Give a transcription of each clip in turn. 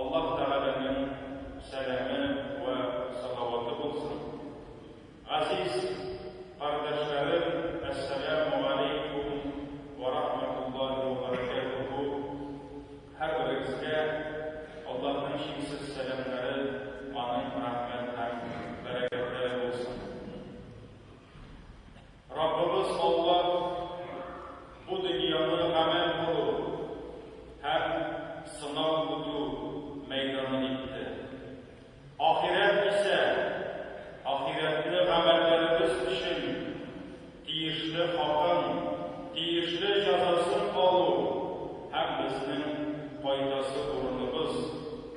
Аллаһ Тәгаләнең сәламе вә салаваты булсын! Газиз кардәшләрем, Әссәләмү галәйкүм вә рахматуллаһи вә бәрәкәтүһү! Һәрберегезгә Аллаһның чиксез сәламнәре, Аның рәхмәт һәм бәрәкәтләре булсын! Раббыбыз Аллаһ бу дөньяны гамәл кылу һәм сынау үтү мәйданы итте. Ахирәт исә, ахирәтне гамәлләребез өчен тиешле хакын, тиешле җәзасын алу һәм безнең кайтасы урыныбыз,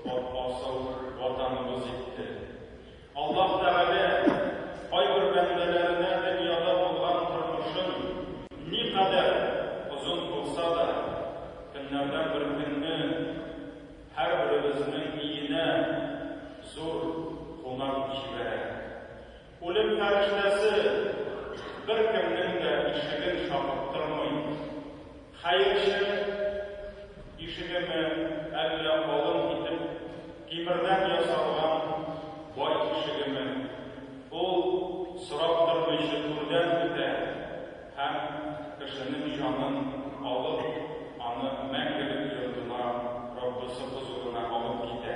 Бабасыл Ватаныбыз итте. Аллаһ Тәгалә кайбер бәндәләренә дөньяда булган тормышын никадәр озын кылса да, көннәрдән бер көнне һәрберебезнең өенә зур кунак җибәрә. Үлем фәрештәсе беркемнең дә ишеген шакыттырмый. Хәер эше тишегеме, әллә калын итеп тимердән ясалган бай тишегеме, ул сорап тормыйчы түрдән үтә һәм, кешенең җанын алып, аны мәңгелек йортына, Раббысы хозурына алып китә.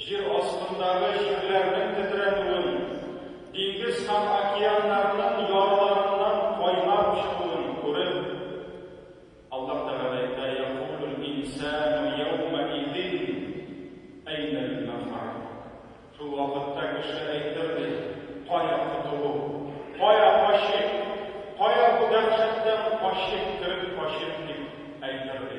Җир астындагы җирләрнең тетрәнүен, диңгез һәм океаннарның ярларыннан кайнап чыгуын күреп, Аллаһ Тәгалә әйтә, Якулүл инсәәнү йәүмәизин әйнәл-мәфәр. Шул вакытта кеше әйтер, ди, Кая котылу? Кая качыйк? Кая бу дәһшәттән качыйк, кереп качыйк? дип әйтер, ди.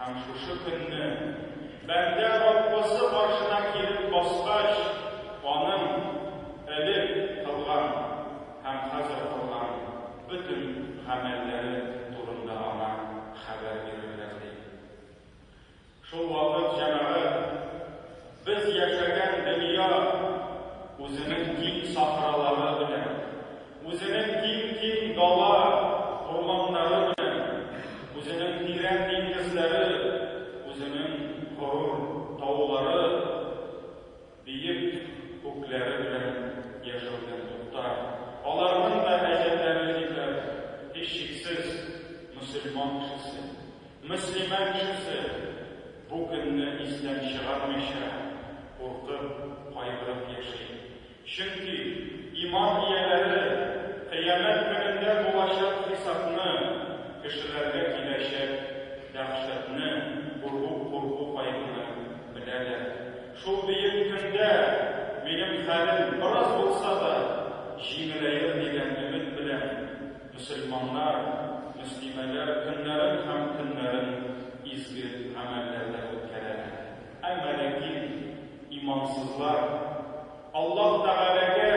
Һәм шушы көнне, бәндә Раббысы каршына килеп баскач, аның элек кылган һәм хәзер кылган бөтен гамәлләре турында аңа хәбәр бирерләр, ди. Шул вакыт җәмәгать. Без яшәгән дөнья үзенең киң сахралары белән, үзенең киң-киң дала, урманнары белән, үзенең тирән диңгезләре, үзенең горур таулары, биек күкләре белән яшәүдән туктар. Аларның да әҗәлләре җитәр, һичшиксез, мөселман кешесе, Мөслимә кешесе бу көнне истән чыгармыйча, куркып, кайгырып яши. Чөнки иман ияләре Кыямәт көнендә булачак хисапны, кешеләргә киләчәк дәһшәтне, курку-курку кайгыны беләләр. Шул бөек көндә минем хәлем бераз булса да җиңеләер дигән өмет белән. Мөселманнар, мөслимәләр көннәрен һәм төннәрен изге гамәлләрдә үткәрәләр. Әмма ләкин имансызлар Аллаһ Тәгаләгә,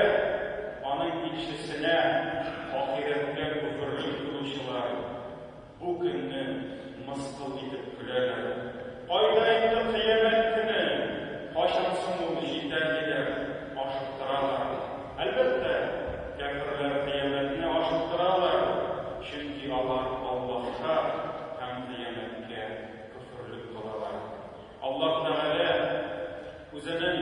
Аның илчесенә, ахирәткә көферли торучылар. Бу көнне мыскыл итеп көләләр. Кайда инде кыямәт көне? Кайчан соң ул җитә? диләр, ашыктыралар. Әлбәттә, кяферләр кыямәтне ашыктыралар, чөнки алар Аллаһка һәм кыямәткә көферлек кылалар. Аллаһ Тәгалә Үзенең.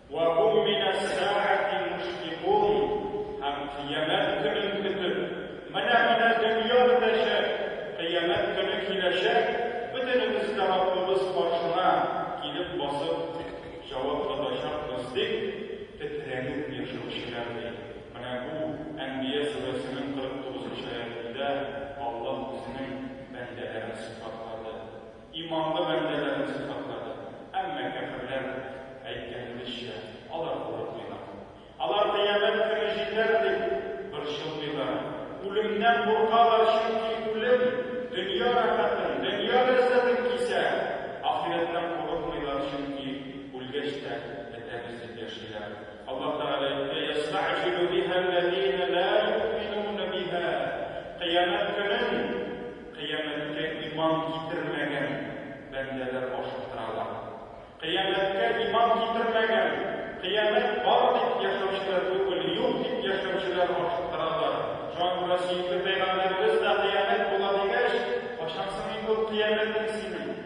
Вә һум мин әс-сәәәти мушфикун, һәм Кыямәт көнен көтеп, менә, менә дөнья бетәчәк, Кыямәт көне киләчәк, бөтенебез дә Раббыбыз каршына килеп басып җавап тотачакбыз, дип тетрәнеп яшәүчеләр, ди. Менә бу Әнбия сүрәсенең 49 нчы аятендә Аллаһ Үзенең бәндәләрен сыйфатлады. Иманлы бәндәләрне сыйфатлады. Әмма кәферләр, әйткәнебезчә, алар курыкмыйлар. Алар Кыямәт көне җитәр дип борчылмыйлар. Үлемнән куркалар, чөнки үлем дөнья рәхәтен, дөнья ләззәтен кисә. Ахирәттән курыкмыйлар, чөнки үлгәч тә бетәбез дип яшиләр. Аллаһ Тәгалә әйтте, Йәстәгъҗилү биһәл ләзинә лә юъминүнә биһә, Кыямәт көнен, Кыямәткә иман китермәгән бәндәләр ашыктыралар. Кыямәткә иман китермәгән, кыямәт бар дип яшәүчеләр түгел, юк дип яшәүчеләр ашыктыралар. Шуңа күрә сөекле пәйгамбәребез дә кыямәт була дигәч, качансың инде ул кыямәтең синең?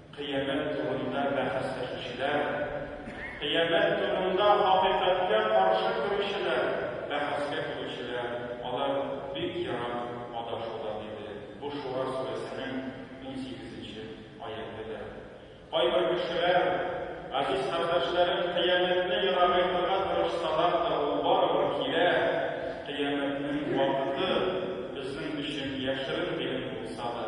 Кыямәт турында бәхәсләшүчеләр, Кыямәт турында хакыйкатькә каршы торучылар, бәхәскә килүчеләр, алар бик ерак адашуда, диде. Бу Шура сүрәсенең унсигезенче аятедер. Кайбер кешеләр, Газиз кардәшләрем, Кыямәтне ерагайтырга тырышсалар да, ул барыбер килә, Кыямәтнең вакыты безнең өчен яшерен гыйлем булса да,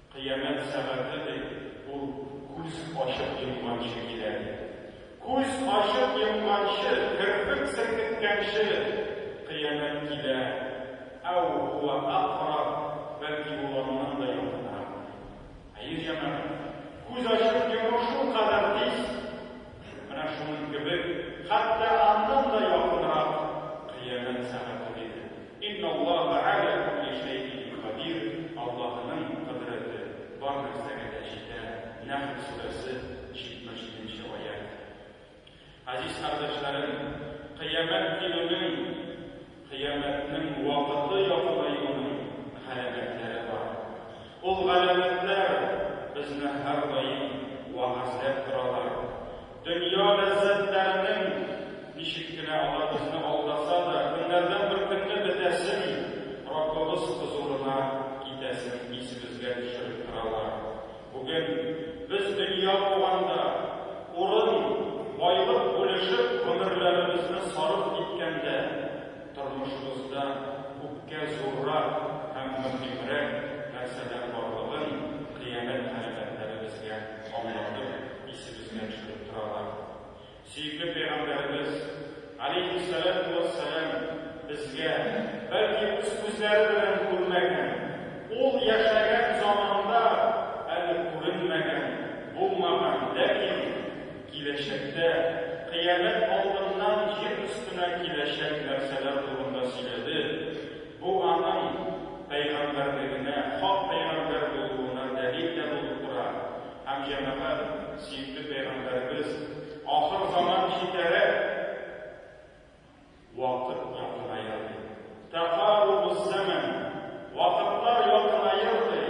Кыямәт сәгате дип, ул күз ачып йомганчы килә бит. Күз ачып йомганчы, керфек селкеткәнче Кыямәт килә, әү һуа әкъраб, бәлки ул аннан да якынрак. Әйе, җәмәгать, күз ачып йому шулкадәр тиз, Менә шуның кебек, хәтта аннан да якынрак, Кыямәт сәгате диде. Инналлаһа галә кулли шәйин кадир, Аллаһының кодрәте бар нәрсәгә дә җитә, Нәхл сүрәсе, 77 нче аять. Газиз кардәшләрем, Кыямәт килүнең. Кыямәтнең вакыты якынаюының галәмәтләре бар. Ул галәмәтләр безне һәрдаим вәгазьләп торалар. Дөнья ләззәтләренең, ничек кенә алар безне алдаса да, көннәрдән бер көнне бетәсен, Раббыбыз хозурына китәсен исебезгә төшереп торалар. Бүген без дөнья куганда, урын, байлык бүлешеп гомерләребезне сарыф иткәндә, тормышыбызда күпкә зуррак һәм мөһимрәк нәрсәләр барлыгын кыямәт галәмәтләре безгә аңлатып, исебезгә төшереп торалар. Сөекле пәйгамбәребез, галәйһиссәләтү вәссәлам, безгә, бәлки үз күзләре белән күрмәгән, ул яшәгән заманда әле күренмәгән, булмаган, ләкин киләчәктә, кыямәт алдыннан җир өстенә киләчәк нәрсәләр турында сөйләде, бу аның пәйгамбәрлегенә, хак пәйгамбәр булуына дәлил дә булып тора. Һәм, җәмәгать, сөекле пәйгамбәребез, Ахыр заман җитәрәк! Вакыт якыная! ди. Тәкарубу-ззәмән! Вакытлар якынаер! ди.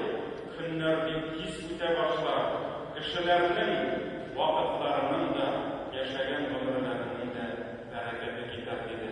Көннәр бик тиз үтә башлар, кешеләрнең вакытларының да, яшәгән гомерләренең дә бәрәкәте китәр, диде.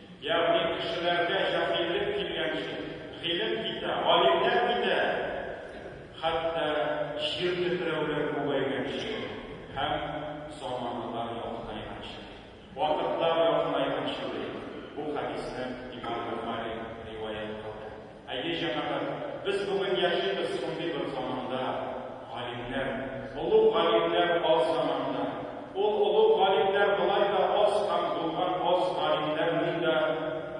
Ягъни кешеләргә җаһиллек килгәнче, гыйлем китә, галимнәр китә, хәтта җир тетрәүләр күбәйгәнче һәм заманалар якынайганчы, вакытлар якынайганчы, ди бу хәдисне Имам Бохари риваять кылды. Әйе, җәмәгать, без бүген яшибез шундый бер заманда, галимнәр, олуг галимнәр аз заманда. Ул олуг галимнәр болай да аз һәм булган аз галимнәрнең дә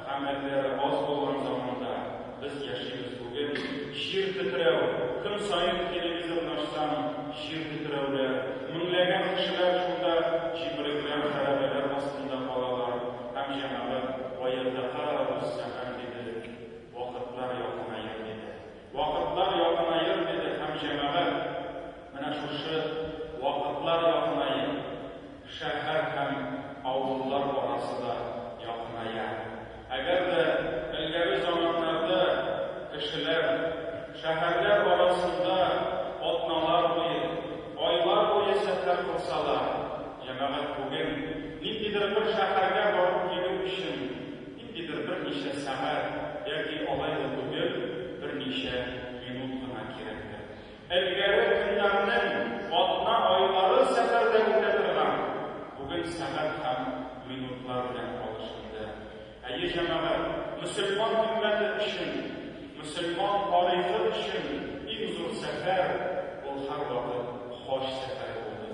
гамәлләре аз булган заманда без яшибез бүген. Җир тетрәү, көн саен телевизорны ачсаң, җир тетрәүләр, меңләгән кешеләр шунда җепрекләр, хәрабәләр астында калалар һәм җәмәгать, гаязәка, рус әфәндиде, Вакытлар якынаер диде. Вакытлар якынаер диде һәм җәмәгать, менә шушы вакытлар якынаер, шәһәр һәм авыллар арасы да якыная. Әгәр дә элгәре заманнарда кешеләр шәһәрләр арасында атналар буе, айлар буе сәфәр кылсалар, җәмәгать бүген ниндидер бер шәһәргә барып килү өчен, Ниндидер берничә сәгать яки алай да түгел, берничә минут кына кирәктер. Элгәре көннәрнең атна айлары сәфәрдә үтә торган, бүген сәгать һәм минутлар белән алышынды. Әйе, җәмәгать, мөселман өммәте өчен, мөселман тарихы өчен иң зур сәфәр, ул һәрвакыт хаҗ сәфәре булды.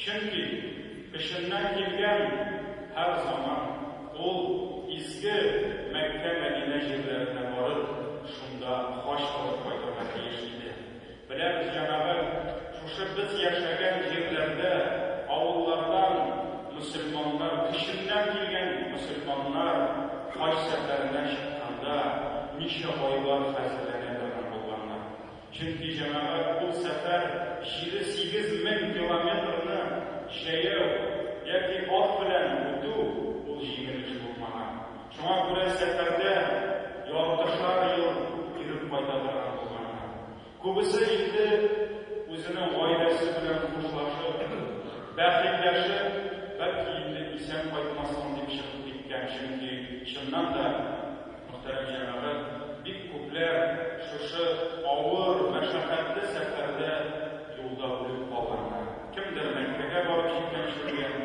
Чөнки эченнән килгән һәр заман ул изге Мәккә-Мәдинә җирләренә барып, шунда хаҗ кылып кайтырга тиеш иде. Беләбез, җәмәгать, шушы без яшәгән җирләрдә, авыллардан мөселманнар, эченнән килгән мөселманнар хаҗ сәфәренә чыкканда, ничә айлар хәзерләнә торган булганнар. Чөнки җәмәгать ул сәфәр җиде сигез мең километрны җәяү яки ат белән үтү ул җиңел эш булмаган. Шуңа күрә сәфәрдә яртышар ел йөреп кайта торган булганнар. Күбесе инде үзенең гаиләсе белән хушлашып, бәхилләшеп, бәлки инде исән кайтмассың дип чыгып киткән, чөнки чыннан да, Мөхтәрәм җәмәгать, бик күпләр шушы авыр, мәшәкатьле сәфәрдә юлда үлеп калганнар. Кемдер Мәккәгә барып җиткәнче үлгән,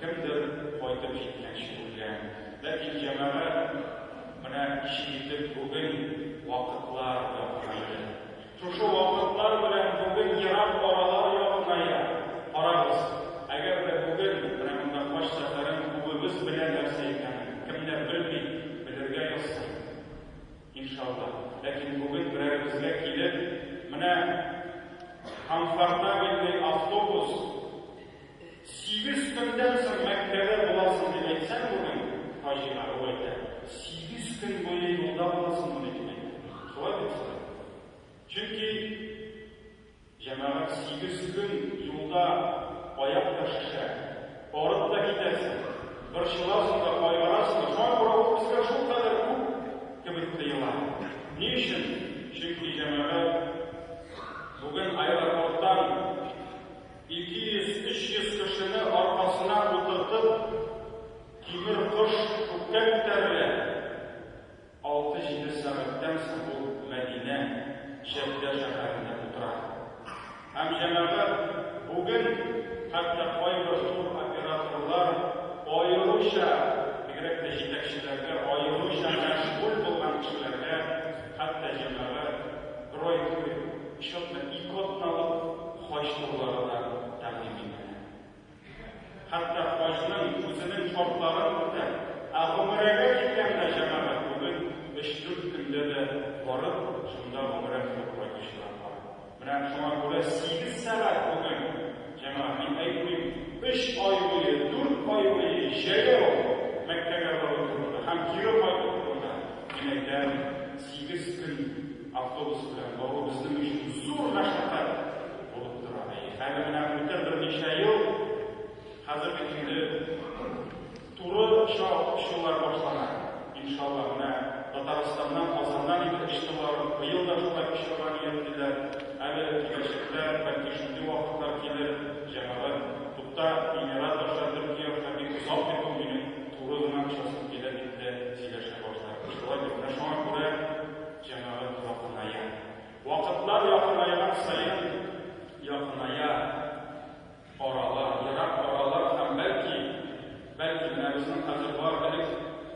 кемдер кайтып җиткәнче үлгән. Ләкин җәмәгать менә ничек итеп бүген вакытлар яңгырады. Шушы вакытлар белән бүген ерак аралар якыная. Карагыз, әгәр дә бүген менә монда хаҗ сәфәрен күбебез белә нәрсә икәнен, кемнәр белми, белергә язсын, иншалла. Ләкин бүген берәребезгә килеп, менә комфортабельный автобус, Сигез көндән соң Мәккәдә буласың дип әйтсәң, бүген хаҗига ул әйтә, сигез көн буе юлда буласыңмыни дип әйтә. Шулай бит шулай. Чөнки җәмәгать сигез көн юлда аяк та шешә, арып та китәсең, борчыласың да, кайгырасың да, шуңа күрә ул безгә шулкадәр күп кебек тоела. Ни өчен? Чөнки җәмәгать бүген аэропорттан Ике йөз, өч йөз кешене аркасына утыртып, тимер кош күккә күтәрелә. Алты-җиде сәгатьтән соң ул Мәдинә, Җәддә шәһәрендә утыра. Һәм, җәмәгать, бүген хәтта кайбер туроператорлар аеруча, бигрәк тә җитәкчеләргә, аеруча мәшгуль булган кешеләргә хәтта, җәмәгать, бройль кебек, счетны ике атналык, Хаҗ турлары да тәкъдим ителә. Хәтта хаҗның үзенең шартларын үтә. Ә гомерәгә киткәндә җәмәгать бүген өч-дүрт көндә дә барып, шунда гомерә кылып кайтучылар бар. Менә шуңа күрә сигез сәгать бүген, җәмәгать, мин әйтмим, өч ай буе, дүрт ай буе җәяү Мәккәгә бару турында һәм кире кайту турында, мин әйтәм, сигез көн. Автобус белән бару безнең өчен зур мәшәкать булып тора. Әле менә үтә берничә ел, хәзерге инде туры чал чулар башлана. Иншалла, менә Татарстаннан, Казаннан инде очты барып, быел да шулай очырга ниятлиләр. Әле киләчәктә, бәлки шундый вакытлар килер, җәмәгать, тукта, Эмират аша Төркия аша бик озак бит ул, минем туры гына очасым килә, дип тә сөйләшә башлар. Шулай бит, менә шуңа күрә. Җәмәгать якыная. Вакытлар якынайган саен якыная аралар, ерак аралар һәм бәлки, бәлки менә безнең хәзер бар элек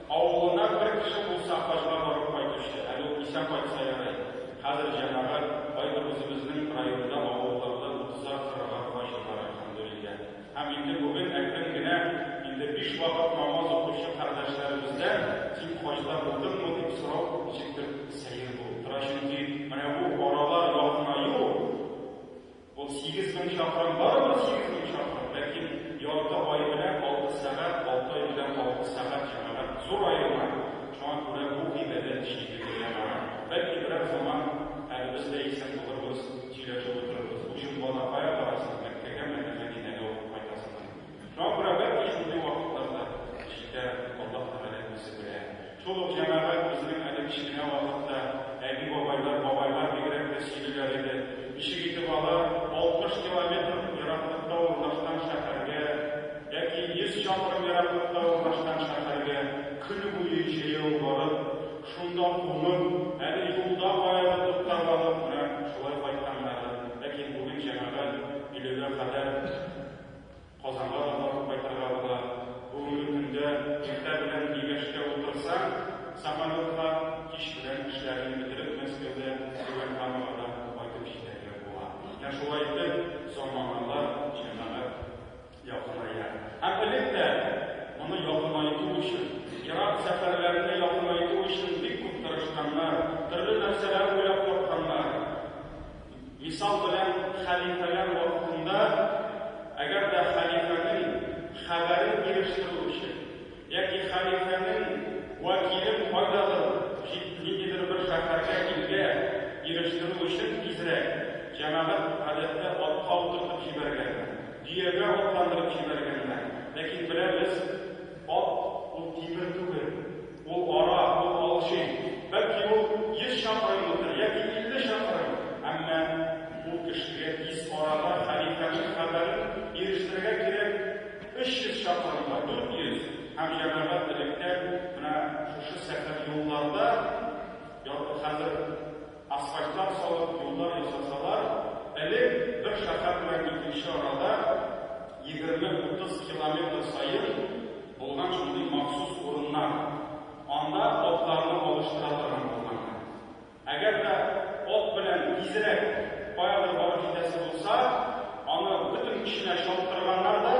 авылына бер кеше булса хаҗга барып кайтучы, әле ул исән кайтса ярый, хәзер җәмәгать кайбер үзебезнең районда авылларда утызар, кырыгар хаҗи бар, әлхәмдүлилләһ. Һәм инде бүген әкрен генә, инде биш вакыт намаз укучы кардәшләребездән, Син хаҗда булдыңмы? дип сорау ничектер сәер булып тора, чөнки менә бу аралар якынаю ул. Ул сигез мең чакрым, барыбер сигез мең чакрым, ләкин ярты ай белән алты сәгать, алты ай белән алты сәгать җәмәгать зур аерма, шуңа күрә бу гыйбадәт җиде генә бара. Бәлки берәр заман әле без дә исән булырбыз. Сөйләшеп утырыгыз. Уҗым бала кая барасың, Мәккәгәме, әллә Мәдинәгә укып кайтасыңмы? Шуңа күрә бер ни шундый вакытларда җитә, Аллаһ Тәгалә үзе белә. Шул ук җәмәгать үзенең әле кечкенә вакытта әби-бабайлар, бабайлар бигрәк тә сөйлиләр иде, ничек итеп алар 60 километр ераклыкта урнашкан шәһәргә яки 100 чакрым ераклыкта урнашкан шәһәргә көне буе җәяү барып, Шунда улым, әле юлда аеры туктап алып, менә шулай кайтканнары, ләкин бүген җәмәгать өйләгә кадәр Казанга да барып кайтырга була. Бүгенге көндә иртә белән Мигәшкә утырсаң, самолетка, кич белән эшләрен бетереп Мәскәүдә Түбән Камага да кайтып җитәргә була. Менә шулай итеп, заманалар, җәмәгать. Якыная. Һәм элек тә моны якынайту өчен, ерак сәфәрләрне якынайту өчен бик күп тырышканнар, төрле нәрсәләр уйлап тапканнар. Мисал белән, хәлифәләр вакытында, әгәр дә хәлифәнең хәбәрен ирештерү өчен, Яки хәлифәнең вәкиле кайдадыр җит ниндидер бер шәһәргә, илгә ирештерү өчен тизрәк, җәмәгать гадәттә атка утыртып җибәргән, дөягә атландырып җибәргәннәр, ләкин беләбез, ат ул тимер түгел, ул ара, ул алҗый, бәлки ул йөз чакрымлыдыр, яки илле чакрым, әмма ул кешегә тиз арада хәлифәнең хәбәрен ирештерергә кирәк. 300 чакрымга 400 һәм җәмәгать электән менә шушы сәхәр юлларда ял- хәзер асфальтлар салып, юллар ясасалар, элек бер шәһәр белән икенче арада егерме-утыз километр саен булган шундый махсус урыннар, анда атларны алыштыра торган булганнар. Әгәр дә ат белән тизрәк каядыр барып җитәсе булса, аны бөтен көченә чаптырганнар да,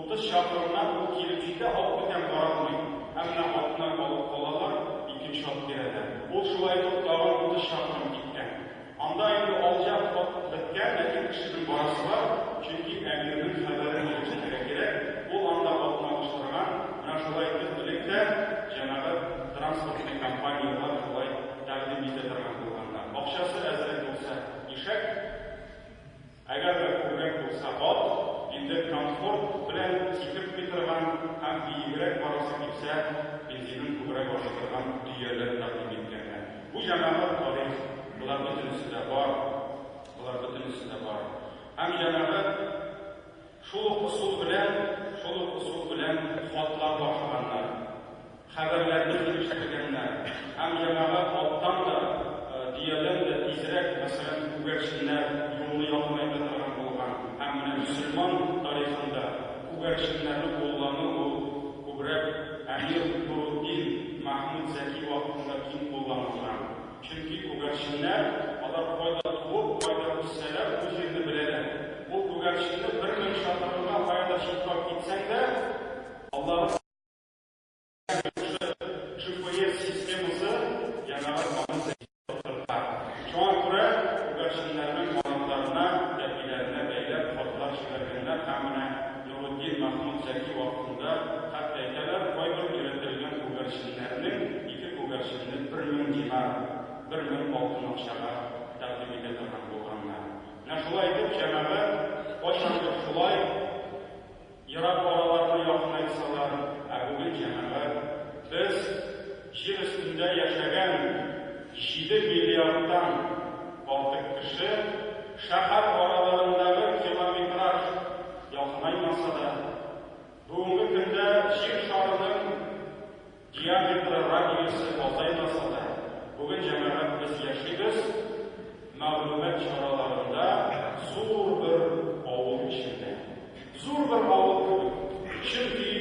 утыз чакрымнан ул килеп җитә, ат бүтән бара алмый. Әмма атны алып калалар, икенче ат бирәләр. Ул шулай итеп тагын утыз чакрым киткән. Анда инде алҗа ат беткән, ләкин кешенең барасы бар, чөнки әмирнең хәбәрен алып җитәргә кирәк. Ул анда атны алыштырган. Менә шулай итеп элек тә җәмәгать. Транспортный компанияләр болай тәкъдим итә торган булганда, акчасы әзрәк булса, ишәк, әгәр дә күбрәк булса, ат, инде комфорт белән сикереп китырган һәм биегрәк барасы килсә, бензинын күбрәк ашый торган дөяләр тәкъдим иткәннәр. Бу җанагы тарих, болар бөтенесе дә бар, болар бөтенесе дә бар. Һәм җанагы. Шул ук ысул белән, шул ук ысул белән хатлар тапшырганнар, хәбәрләрне килештергәннәр һәм җәмәгать алттан да, дөядән дә тизрәк, мәсәлән, күгәрченнәр юлны якынайта торган булган һәм менә мөселман тарихында күгәрченнәрне куллану ул күбрәк әмир Нурутдин Мәхмүд Зәки вакытында киң кулланылган. Чөнки күгәрченнәр, алар кайда туып, кайда үссәләр, бу җирне беләләр. Ул күгәрченне бер мең чакрымга кая да чыплап китсәң дә, Аллаһы Тәгалә аңа җавап бирә. Шушы GPS системасы яңарып аны сәйдәп утырта. Шуңа күрә күгәрченнәрнең канатларына, тәпиләренә бәйләп, хатлар җибәргәннәр һәм менә Нуретдин Мәхмүт Зәки вакытында, хәтта әйтәләр, кайбер өйрәтелгән күгәрченнәрнең ике күгәрченне бер мең динар, бер мең алтын акчага, тәкъдим итә торган булганнар. Менә шулай итеп, җәмәгать кайчандыр шулай ерак араларны якынайтсалар, ә бүген җәмәгать без, Җир өстендә яшәгән җиде миллиардтан артык кеше шәһәр араларындагы километраж якынаймаса да, бүгенге көндә Җир шарының диаметры, радиусы азаймаса да, бүген җәмәгать без яшибез мәгълүмат чараларында зур бер авыл эчендә. Зур бер авыл бу. Чөнки,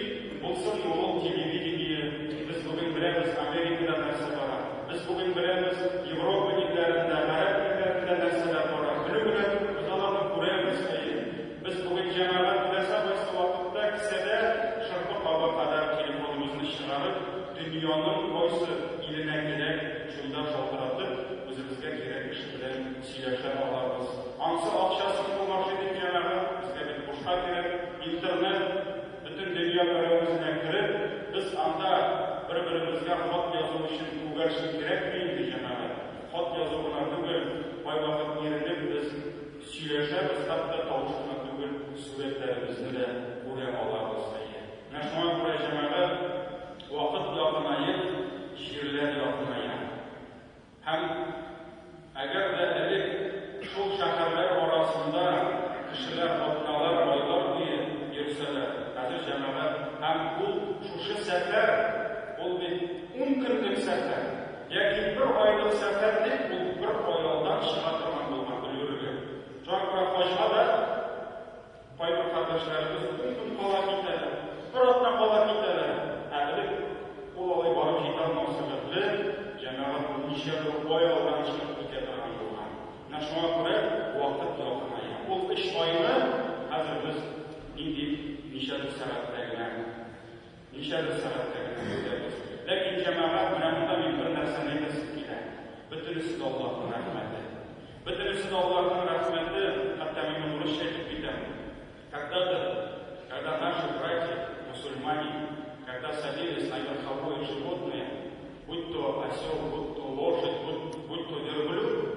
булсын ди ул телевидение, без бүген беләбез Америкада нәрсә бара, без бүген беләбез Европа илләрендә, гарәп илләрендә нәрсәләр бара, белү генә түгел, без аларны күрәбез, әйе. Без бүген җәмәгать теләсә кайсы вакытта, кесәдә шырпы кабы кадәр телефоныбызны чыгарып, дөньяның кайсы иленә кирәк, шунда шалтыратып, үзебезгә кирәк кеше белән Сөйләшә алабыз. Ансы акча сыйфу машин дип янагы, безгә бит бушка кирәк. Интернет, бөтен дөнья берәү үзенә кереп, без анда бер-беребезгә хат язу өчен күгәрчен кирәкме инде, җәмәгать? Хат язу гына түгел, кайвакыт иренеп без сөйләшәбез, хәтта тавыш кына түгел, сурәтләребезне дә күрә алабыз, әйе. Менә шуңа күрә, җәмәгать, вакыт якынаеп, җирләр якыная. Һәм әгәр дә элек шул шәһәрләр арасында кешеләр атналар, айлар буе йөрсәләр, хәзер җәмәгать һәм ул шушы сәфәр, ул бит ун көнлек сәфәр, яки бер айлык сәфәр дип, ул бер ай алдан чыга торган булган, өлгерергә. Шуңа күрә хаҗга да. Кайбер кардәшләребез ун көн кала китәләр, бер атна кала китәләр, ә элек ул алай барып җитә алмау сәбәпле, җәмәгать берничә бер ай алдан чыгып китә торган булган. Менә шуңа күрә вакыт якыная. Ул өч айны хәзер без нинди ничә бер сәгатьтә генә Ничәдер сәгатькә генә йөртәбез. Ләкин, җәмәгать, менә монда мин бер нәрсәне әйтәсем килә. Бөтенесе дә Аллаһның рәхмәте. Бөтенесе дә Аллаһның рәхмәте, хәтта мин моны урысча әйтеп китәм. Когда-то, когда наши братья, мусульмане, когда садились на верховое животное, будь то осел, будь то лошадь, будь, будь то верблюд,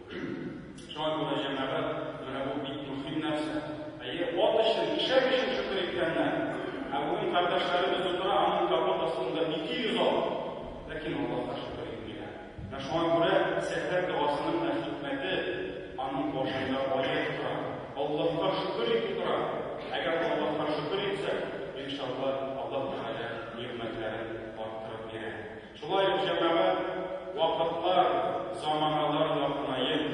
Шуңа күрә, җәмәгать, менә бу бик мөһим нәрсә. Әйе, ат өчен, ишәк өчен шөкер иткәннәр. Ә бүген кардәшләребез утыра аның капот астында 200 ат, ләкин Аллаһка шөкер итмиләр. Менә шуңа күрә сәхәр догасының да хикмәте аның башында аять тора. Аллаһка шөкер итү тора. Әгәр Аллаһка шөкер итсәк, иншаллаһ, Аллаһ Тәгалә нигъмәтләрен арттырып бирә. Шулай ук җәмәгать вакытлар, заманалар якынаеп,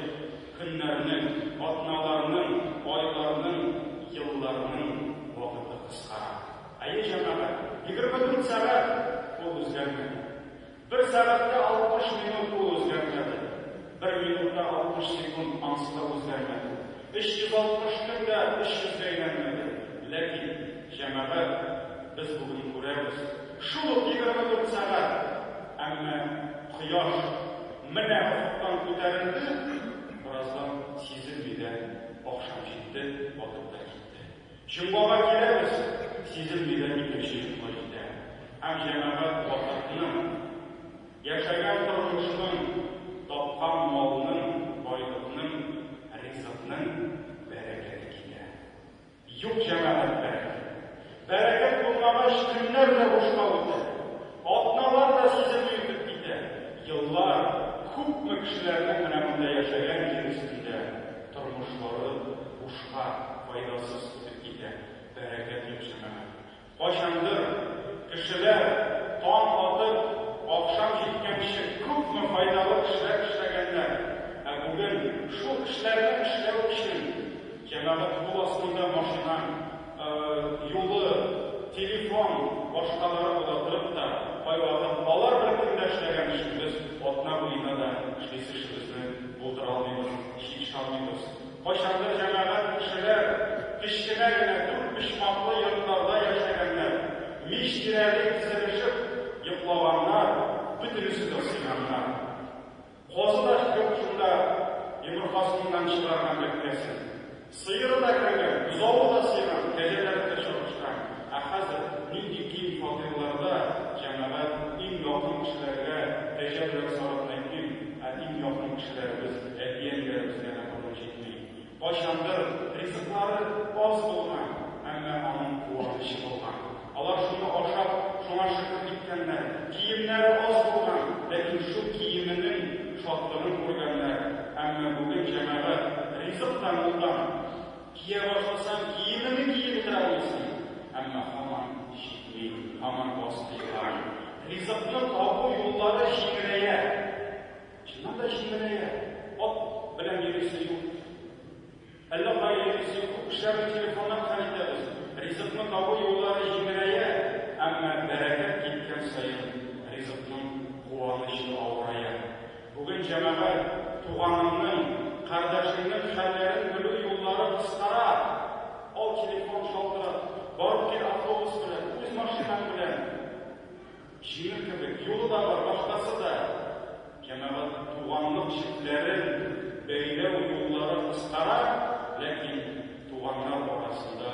көннәрнең, атналарның, айларның, елларның вакыты кыскара. Әйе, җәмәгать, егерме дүрт сәгать ул үзгәрмәде. Бер сәгатьтә алтмыш минут ул үзгәрмәде. Бер минутта алтмыш секунд ансы да үзгәрмәде. 360 көн дә 300 гә әйләнмәде, ләкин, җәмәгать, без бүген күрәбез, шул ук 24 сәгать, әмма кояш менә офыктан күтәрелде, бераздан сизелми дә, ахшам җитте, батып та китте. Җомгага киләбез, сизем мине икенче якка итә һәм җәмәгать вакытның, яшәгән тормышның, тапкан малның, байлыкның, ризыкның бәрәкәте китә. Юк җәмәгать бәрәкәте. Бәрәкәт булмагач, көннәр дә бушка үтә. Атналар да сизелми үтеп китә. Еллар, күпме кешеләрнең менә монда яшәгән җир өстендә. Тормышлары бушка, файдасыз үтеп китә. Бәрәкәт юк, җәмәгать. Кайчандыр кешеләр таң атып, ахшам җиткәнче күпме файдалы эшләр эшләгәннәр. Ә бүген шул эшләрне эшләү өчен җәмәгать кул астында машина юлы, телефон, башкалары була торып та, кайвакыт алар бер көндә эшләгән эшебез атна буена да эшлисе эшебезне булдыра алмыйбыз. Ничек чамыйбыз? Кайчандыр җәмәгать кешеләр, кечкенә генә дүртпочмаклы йортларда яшәгәннәр, мич тирәли тезелешеп йоклаганнар, бөтенесе дә сыйганнар. Казы да юк шунда, йомыркасыннан чыгарган бәбкәсен. Сыеры да кергән, бозавы да сыйган, кәҗәләре дә чабышкан. Ә хәзер нинди киң фатирларда җәмәгать, иң якын кешеләргә кәҗә белән сарыкны әйтмим, ә иң якын кешеләребез, әти-әниләребезгә дә борын җитми. Кайчандыр ризыклары аз булган, әмма аның куанычы булган. Алар шуны ашап, шуңа шөкер киткәннәр. Киемнәре аз булган, ләкин шул киеменең шатлыгын күргәннәр. Әмма бүген җәмәгать, ризык та мулдан. Кия башласаң, киемеңне киеп утыра алмыйсың. Әмма һаман җитми, һаман аз тыелган. Ризыкны табу юллары җиңеләя. Чыннан да җиңеләя. Ат белән йөрисе юк. Әллә кая җитүче күп кешеләрне телефоннан хәл итәбез. Ризыкны табу юллары җиңеләя, әмма бәрәкәт киткән саен ризыкның куанычы авырая. Бүген җәмәгать туганыңның, кардәшеңнең хәлләрен белү юллары кыскара. Ал телефон, шалтырат, барып кил автобус белән, үз машинаң белән. Җиңел кебек, юлы да бар, вахтасы да. Җәмәгать туганлык җепләрен бәйләү юллары кыскара, ләкин туганнар арасында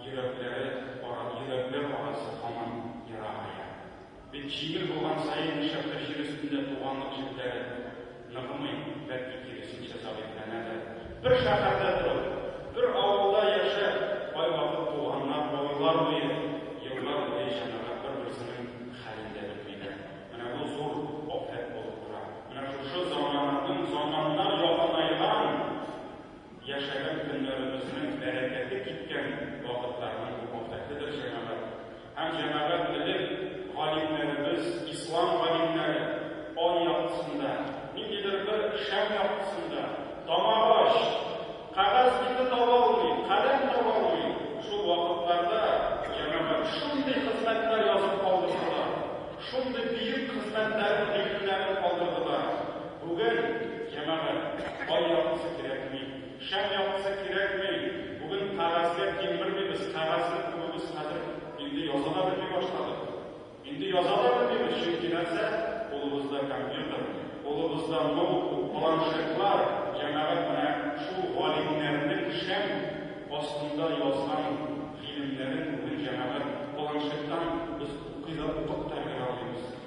йөрәкләре ара, йөрәкләр арасы һаман ерагая. Бит җиңел булган саен, нишләптер җир өстендә туганлык җепләре. Ныгымый, бәлки киресенчә зәгыйфьләнәдер. Бер шәһәрдә торып, бер авылда яшәп, кайвакыт туганнар айлар буе, еллар буе җәмәгать бер-берсенең хәлен дә белмиләр. Менә бу зур афәт булып тора. Менә шушы замананың, заманнар якынайган, яшәгән көннәребезнең бәрәкәте киткән вакытларның бу афәтедер җәмәгать. Һәм җәмәгать белем галимнәребез, ислам галимнәре ай яктысында, ниндидер бер шәм яктысында, таң агач, кәгазь бите таба алмый, каләм таба алмый, шул вакытларда җәмәгать шундый хезмәтләр язып калдырдылар, шундый бөек хезмәтләрен, гыйлемнәрен калдырдылар. Бүген җәмәгать ай яктысы кирәкми. Шәм яктысы кирәкми, бүген кәгазьгә тиң бермибез, кәгазьне күбебез хәзер инде яза да белми башладык. Инде яза да белмибез, чөнки нәрсә, кулыбызда компьютер, кулыбызда ноутбук, планшетлар, җәмәгать менә шул галимнәрнең шәм астында язган гыйлемнәрен бүген җәмәгать планшеттан без укый да, укып та өлгерә алмыйбыз.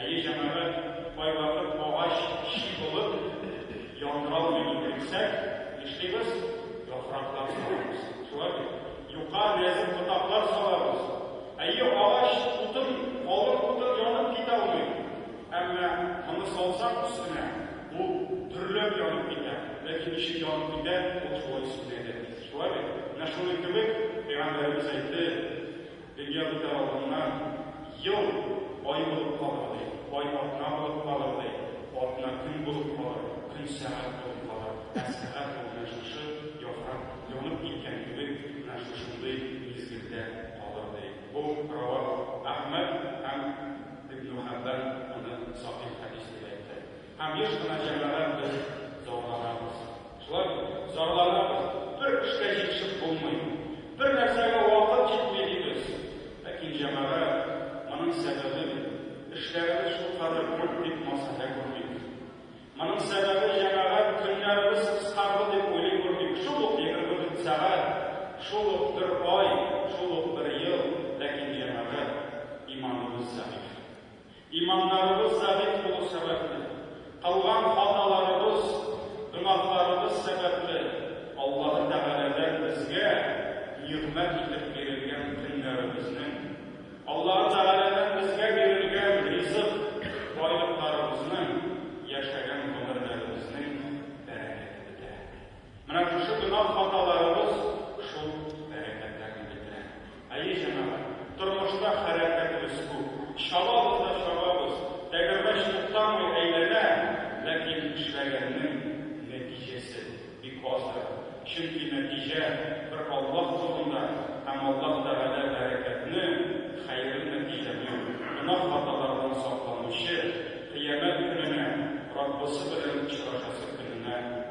Әйе, җәмәгать, кайвакыт агач чи булып, яңгырау юлын бирсәк, нишлибез? Яфраклар салабыз. Шулай бит? Юка, нәзек ботаклар салабыз. Әйе, агач утын, калын утын янып китә алмый. Әмма моны салсак өстенә, ул дөрләп янып китә. Ләкин ничек янып китә, ул шулай сүнә дә. Шулай бит? Менә шуның кебек, Пәйгамбәребез әйтте, Дөнья үтәр алдыннан, ел ай булып калыр, ди, ай атна булып калыр, ди, атна көн булып калыр, көн сәгать булып калыр, ә сәгать ул менә шушы яфрак янып киткән кебек менә шушындый мизгелдә калыр, ди. Бу Рәвах Әхмәт һәм Ибнухәббан моны сахих хәдис дип әйтте. Һәм еш кына җәмәгать без зарланабыз. Шулай зарланабыз, бер эшкә җитешеп булмый, бер нәрсәгә вакыт җитми дибез. Ләкин җәмәгать, моның сәбәбен эшләребез шулкадәр күп дип масаһә күрмибез. Моның сәбәбе җәмәгать көннәребез кыскарды дип уйлый күрмибез. Шул ук егерме дүрт сәгать, шул ук бер ай, шул ук бер ел, ләкин җәмәгать, иманыбыз зәгыйфь. Иманнарыбыз забит булу сәбәпле, кылган хаталарыбыз, гөнаһларыбыз сәбәпле Аллаһы Тәгаләдән безгә нигъмәт итеп бирелгән көннәребезнең, Аллаһы Тәгаләдән безгә бирелгән ризык, байлыкларыбызның, яшәгән гомерләребезнең бәрәкәте бетә. Менә шушы гөнаһ хаталарыбыз шул бәрәкәтләрне бетерә. Әйе, җәмәгать, тормышта хәрәкәтебез күп, чабабыз да чабабыз, тәгәрмәч туктамый әйләнә, ләкин эшләгәннең нәтиҗәсе бик аздыр, чөнки нәтиҗә бер Аллаһ кулында һәм Аллаһ Тәгалә бәрәкәтне, хәерле нәтиҗәне гөнаһ хаталардан сакланучы, кыямәт көненә Раббысы белән очрашасы көненә,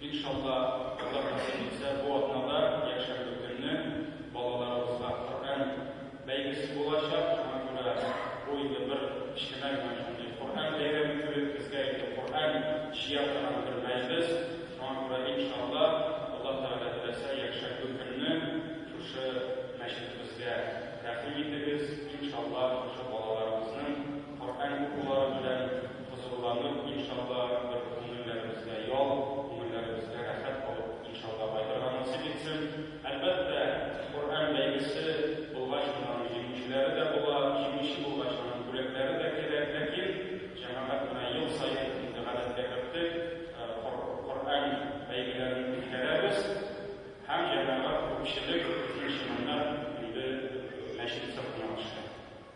Иншалла, Аллаһ насыйп итсә, бу атнада якшәмбе көнне балаларыбызга Коръән бәйгесе булачак. Шуңа күрә бу инде бер кечкенә генә шундый Коръән бәйрәме кебек, безгә инде Коръән җыя торган бер мәҗлес. Шуңа күрә, иншалла, Аллаһ Тәгалә теләсә, якшәмбе көнне шушы мәчетебезгә тәкъдим итегез. Иншалла, шушы балаларыбызның. Коръән укулары белән хозурланып, иншалла, бер күңелләребезгә ял, күңелләребезгә рәхәт алып, иншалла, кайтырга насыйп итсен. Әлбәттә, Коръән бәйгесе булгач, аның җиңүчеләре дә була, җиңүче булгач, аның бүләкләре дә кирәк. Ләкин җәмәгать менә ел саен инде гадәткә керттек, Коръән бәйгеләрен үткәрәбез һәм җәмәгать, күпчелек, икенче меңнәр инде мәчет сыртына төшә.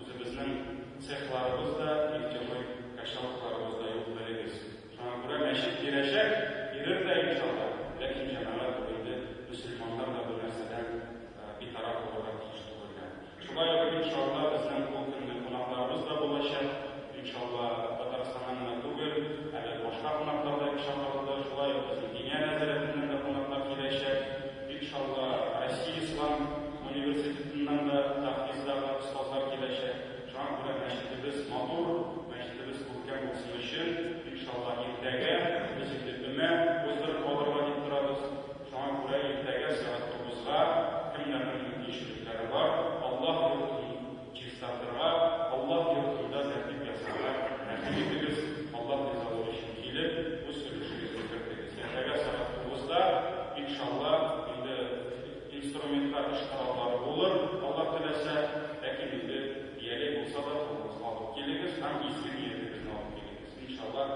Үзебезнең цехларыбыз да, нефтяной качалкаларыбыз да юк, белегез. Шуңа күрә мәчет бирәчәк, бирер дә, иншалла. Ләкин җәмәгать ул инде мөселманнар да бу нәрсәдән битараф булырга тиеш түгелләр. Шулай ук, иншалла, безнең бу көнне кунакларыбыз да булачак. Иншалла, Татарстаннан гына түгел, әле башка кунаклар да чакырылды. Шулай ук безнең диния нәзарәтеннән дә кунаклар киләчәк. Бик шатла, Россия ислам университетыннан да тәхфизләрдә остазлар киләчәк. Шуңа күрә мәчетебез матур, мәчетебез күркәм булсын өчен, бик шатла. Иртәгә без инде өмә уздырып калырга дип торабыз. Шуңа күрә иртәгә сәгать тугызга, кемнәрнең мөмкинчелекләре бар, Аллаһ йортын Чистартырга, Аллаһ йортында тәртип ясарга әһель итегез, Аллаһ ризалыгы өчен килеп, үз өлешегезне кертегез. Иртәгә сәгать тугызда, иншалла, инде инструментлар, эш кораллары булыр, Аллаһ теләсә, ләкин инде бияләй булса да, кулыгызга алып килегез һәм изге ниятегезне алып килегез. Иншалла,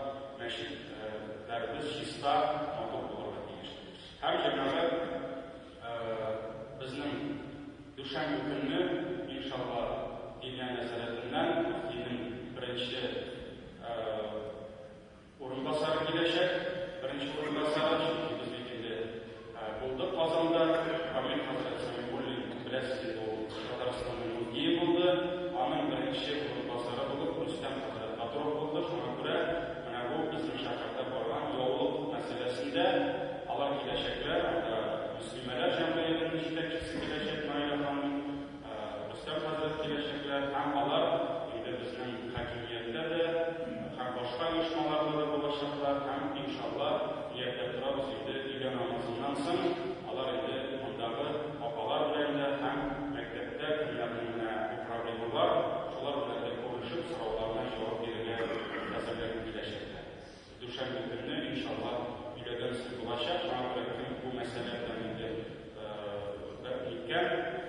мәчетләребез чиста, матур булырга тиеш. Һәм җәмәгать. Безнең дүшәмбе көнне, иншалла, Илия нәзарәтеннән мөфтинең беренче урынбасары киләчәк. Беренче урынбасары, чөнки без бит инде булдык Казанда. Камил хәзрәт Сәмигуллин, беләсез инде, ул Татарстанның мөфтие булды. Аның беренче урынбасары булып Рөстәм хәзрәт Батуров булды. Шуңа күрә Менә бу безнең шәһәрдә барган яулык мәсьәләсендә алар киләчәкләр, анда мөслимәләр җәмгыятенең җитәкчесе киләчәк Наилә ханым, Рөстәм хәзрәт киләчәкләр һәм алар инде безнең хакимияттә дә һәм башка оешмаларда да булачаклар һәм иншалла ниятта торабыз инде өйлә намазыннан соң алар инде мондагы апалар белән дә һәм мәктәптә кемнәрнең менә Программерлар шулар белән дә күрешеп, сорауларына җавап бирергә әзерләнеп киләчәкләр. Дүшәмбе көнне, иншалла, өйләгән сүз булачак. Шуңа күрә кем бу мәсьәлә белән инде бер киткән,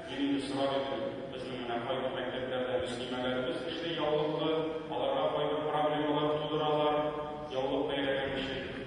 мин инде сорар идем, безнең менә кайбер мәктәпләрдә мөслимәләребез эшли яулыклы, аларга кайбер проблемалар тудыралар, яулык бәйләгән өчен.